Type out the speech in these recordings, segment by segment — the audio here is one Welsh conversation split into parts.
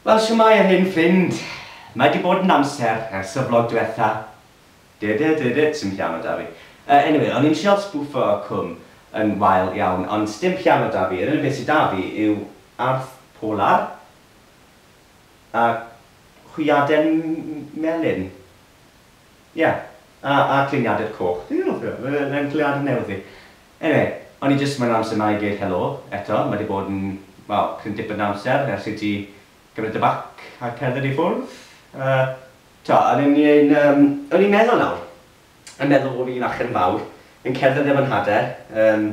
Wel, shwmae yr hen ffrind. Mae 'di bod yn amser ers y vlog dwetha. Dydydydyd, sdim piano 'da fi. Yy, anyway, o'n i'n trial sbwffo cwm yn wael iawn, ond sdim piano 'da fi, yr unig beth sy 'da fi yw arth polar a hwyaden melyn. Ie, a a gliniadur coch. Dwi'n hoffi o, ma' fe'n clniadur newydd fi. Eniwe, o'n i jyst moyn amser 'ma i dweud helo eto, ma' 'di bod yn, wel, cryn dipyn o amser ers i ti gymryd dy bac a cerdded i ffwrdd, yy. T'o', o'n i'n, yym, o'n i'n meddwl nawr, yn meddwl bo' fi'n achub yn fawr, yn cerdded efo Nhad-de, yym,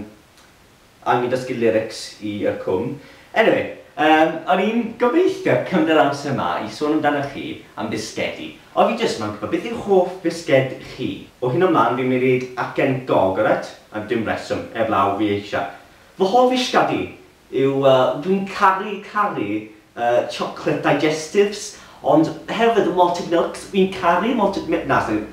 a o'n i'n dysgu lyrics i Y Cwm. Anyway, yym, o'n i'n gobeithio cymryd amser 'ma i sôn amdanoch chi am fisgedi. O, fi jyst moyn gwbod beth yw hoff fisged chi? O hyn o mlan fi'n mynd i ddeud acen gog, alright? Am dim reswm, eblaw fi eisia. Fy hoff fisgedi yw, yy, dwi'n caru, caru, yy, chocolate digestives, ond hefyd y malted milks, fi'n caru malted mi- na, sori,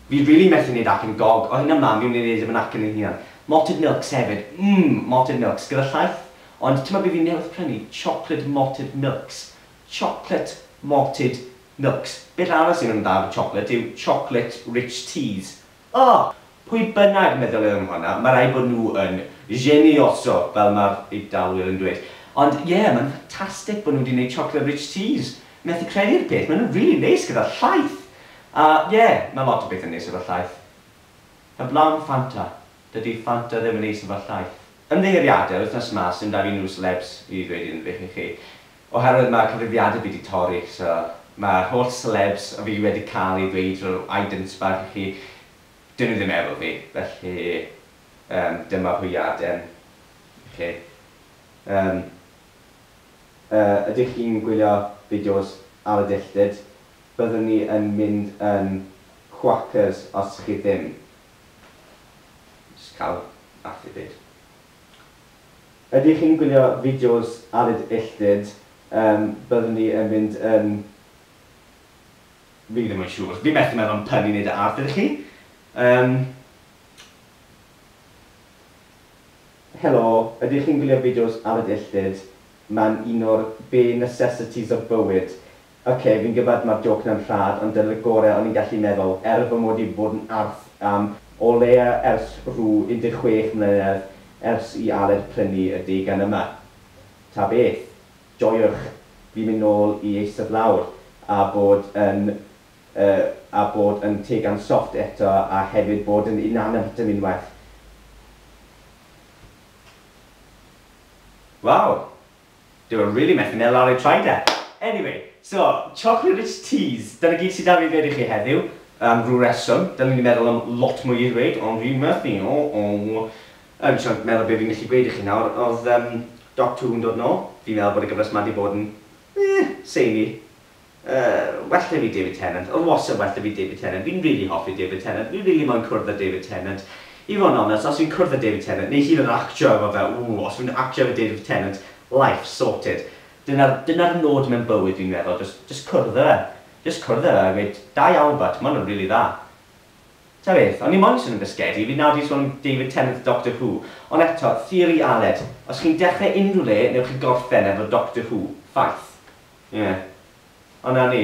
fi rili methu neud acen gog, o hyn o mlan fi'n mynd i neud e mewn acen ei hunan. Malted milks hefyd, mm, malted milks, gyda llaeth, ond timod be fi newydd prynu, chocolate malted milks, chocolate malted milks. Beth arall sydd yn dda efo chocolate yw chocolate rich teas. O! Pwy bynnag meddyliodd am hwnna, ma' raid bod nhw yn genioso, fel ma'r Eidalwyr yn dweud. Ond ie, maen nhw'n ffantastig bod nhw wedi gwneud chocolate rich teas. Methu credu'r peth, maen nhw'n rili neis gyda llaeth. A ie, ma' lot o bethau'n neis efo llaeth. Heblaw am Fanta, dydi Fanta ddim yn neis yn fy llaeth. Ymddiheuriadau wythnos ma sim da fi nhw selebs i ddweud unrhyw beth i chi oherwydd ma cyfrifiadur fi di torri so ma holl selebs o fi wedi cael i ddweud rhyw idents bach i chi dyn nhw ddim efo fi felly yym dyma hwyaden i chi yym yy ydych chi'n gwylio fideos ar y dilltyd byddwn ni yn mynd yn Quackers os chi ddim. Jyst cael laff i gyd. Ydych chi'n gwylio fideos Aled Illtud? Yym, byddwn ni yn mynd yn... Fi ddim yn siŵr. Fi methu meddwl am pun i wneud â arth, ydych chi? Yym. Helo, ydych chi'n gwylio fideos Aled Illtud? Mae'n un o'r bare necessities of bywyd. Ok, fi'n gwbod ma'r jôc na'n rhad, ond dyna'r gore o'n i'n gallu meddwl, er fy mod i 'di bod yn arth am o leia ers rhyw 16 mlynedd ers i Aled prynu y deugan yma. Ta beth, joiwch fi mynd nôl i eistedd lawr a bod yn yy a bod yn teugan soft eto a hefyd bod yn inanimate yn unwaith. Waw! Dw i rili methu meddwl ar ei traed e! Anyway, so, chocolate rich teas, dyna gyd sy 'da fi i ddweud i chi heddiw, am rhyw reswm, dylen i 'di meddwl am lot mwy i ddweud, ond dwi methu, o-o! Yn trio meddwl be fi'n gallu gweud i chi nawr, oedd yym Doc Two yn dod nôl, fi'n meddwl bod y gyfres 'ma 'di bod yn, eh, samey. well 'da fi David Tennant, oedd wastad well 'da fi David Tennant, fi'n rili hoffi David Tennant, fi rili moyn cwrdd â David Tennant. I fod yn onest, os fi'n cwrdd â David Tennant, neu hyd yn oed actio efo fe, ww, os fi'n actio efo David Tennant, life sorted. Dyna'r, dyna'r nod mewn bywyd fi'n meddwl, jyst, jyst cwrdd â fe. Jyst cwrdd â fe a gweud, da iawn butch, ma' hwn yn rili dda. Ta beth, o'n i moyn swnio'n bisgedi, fi nawr 'di sôn am David Tennant Doctor Who, ond eto, theori Aled, os chi'n dechrau unrhyw le, newch chi gorffen efo Doctor Who, ffaith. Ie. Ond 'na ni.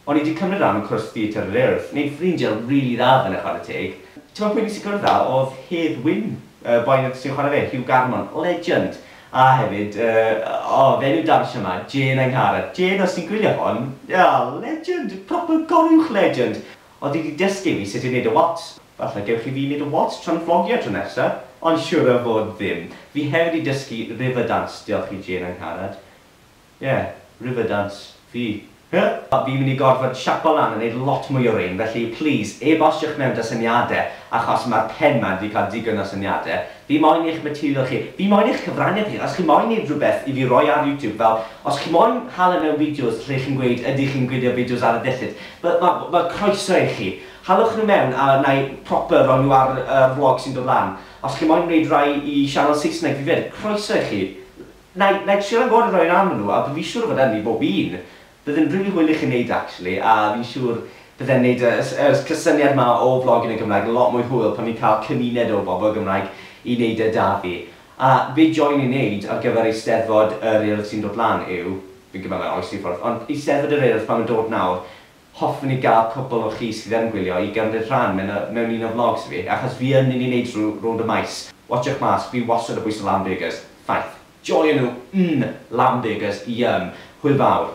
O'n i 'di cymryd ran mewn cwrs theatr yn yr Urdd. Neud ffrindie rili dda f'yna chware teg. T'mod pwy nes i gwrdd â odd Hedd Wyn, y boi 'na sy'n chware fe, Hugh Garmon, legend! A hefyd yy o fe'n yw dawnsio 'ma, Jên Angharad. Jên os ti'n gwylio hwn, o legend! Proper goruwch legend! Odd 'i 'di dysgu fi sut i neud y waltz. Falle gewch chi fi neud y waltz tra'n flogio tro nesa, ond siŵr o fod ddim. Fi hefyd 'di dysgu Riverdance, diolch i Jên Angharad. Ie, Riverdance, fi. Huh? Fi'n mynd i gorfod siapo lan a neud lot mwy o rein, felly plîs, e-bostiwch mewn 'da syniade, achos ma'r pen 'ma wedi cael digon o syniade. Fi moyn eich material chi. Fi moyn eich cyfraniad chi. Os chi moyn neud rhywbeth i fi roi ar YouTube, fel, os chi moyn hala mewn fideos lle chi'n gweud ydych chi'n gwylio fideos ar y dillad, fel, ma- ma' croeso i chi. Halwch nhw mewn a wna i proper roi nhw ar y vlog sy'n dod lan. Os chi moyn neud rai i sianel Saesneg fi 'fyd, croeso i chi. Wna i, wna i trio rhagor o roi lan o nhw a dw fi siŵr o fod ynni bob un. Bydd yn rili hwyl i chi wneud e actually a fi'n siŵr byddem wneud y y yr cysyniad ma o flog yn y Gymraeg yn lot mwy hwyl pan ni'n cael cymuned o bobl Gymraeg i wneud e da fi. A be joen i wneud ar gyfer Eisteddfod yr Urdd sy'n dod lan yw, fi'n gwybod mae oes i ffwrdd, ond Eisteddfod yr Urdd pan mae'n dod nawr, Hoffwn i gael cwpl o chi sydd yn gwylio i gymryd rhan mewn mewn un o vlogs fi, achos fi yn mynd i neud rw rownd y maes. Watsiwch mas, fi wastad yn bwyso lamb burgers. Ffaith. Joio nhw! Umm! Lamb burgers, yum! Hwyl fawr.